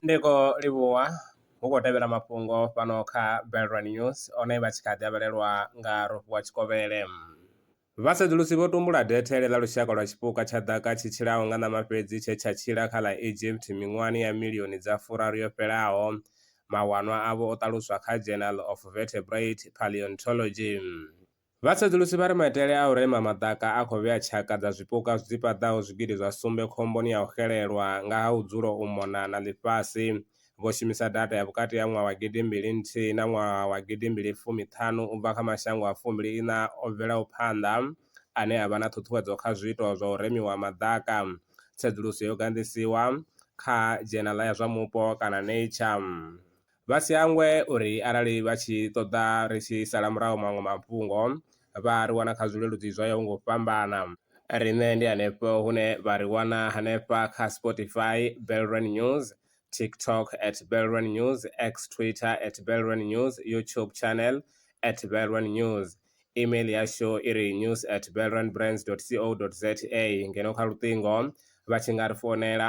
Ndi khou livhuwa hu khou tevhela mafhungo fhano kha Belrwa News one vha tshi kha ḓi avhelelwa nga Rofhiwa Tshikovhele. Vhasedzulusi vho tumbula dethele ḽa lushaka lwa tshipuka tsha ḓaka tshi tshilaho nga ṋama fhedzi tshe tsha tshila kha ḽa Egypt miṅwahani ya milioni dza furaru yo fhelaho. Mawanwa avho o ṱaluswa kha Journal of Vertebrate Paleontology. Vhasedzulusi vha ri maitele a u rema maḓaka a khou vhea tshaka dza zwipuka dzi paḓaho zwigidi zwa sumbe khomboni ya u xelelwa nga ha u dzula u mona na ḽifhasi. Vho shumisa data ya vhukati ha ṅwaha wa gidi mbili nthihi na ṅwaha wa gidi mbili fumi ṱhanu u bva kha mashango a fumbili iṋa o bvelaho phanḓa ane a vha na ṱhuṱhuwedzo kha zwiito zwa u remiwa ha maḓaka. Tsedzuluso yo ganḓisiwa kha dzhenala ya zwa mupo kana Nature. Vha si hangwe uri arali vha tshi ṱoḓa ri tshi sala murahu maṅwe mafhungo, vha a ri wana kha zwileludzi zwo yaho nga u fhambana. Riṋe ndi henefho hune vha ri wana hanefha kha Spotify, Belrand News, TikTok at Belrand News, X, Twitter at Belrand News, YouTube channel at Belrand News. Email yashu i ri news at belrandbrands.co.za ngeno kha luṱingo vha tshi nga ri founela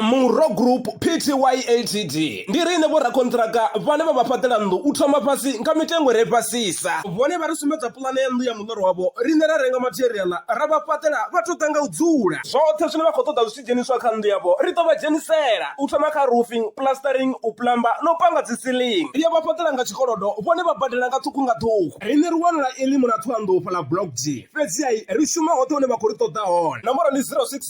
Murro Group Pty Ltd ndi riṋe vhorakonṱiraka vhane vha vha fhaṱela nnḓu u thoma fhasi nga mitengo re fhasisa. Vhone vha ri sumbedza puḽane ya nnḓu ya muḽoro wavho, riṋe ra renga matheriaḽa ra vha fhaṱela vha tou ḓa nga u dzula. Zwoṱhe zwine vha khou ṱoḓa zwi tshi dzheniswa kha nnḓu yavho ri ḓo vha dzhenisela, u thoma kha roofing, plastering, u plumber na u panga dzi ceiling. Ri a vha fhaṱela nga tshikolodo, vhone vha badela nga ṱhukhu nga ṱhukhu. Riṋe ri wanala Elim na Thohoyandou fhaḽa Block D, fhedzi-ha ri shuma hoṱhe hune vha khou ri ṱoḓa hone. Nomboro ndi 06.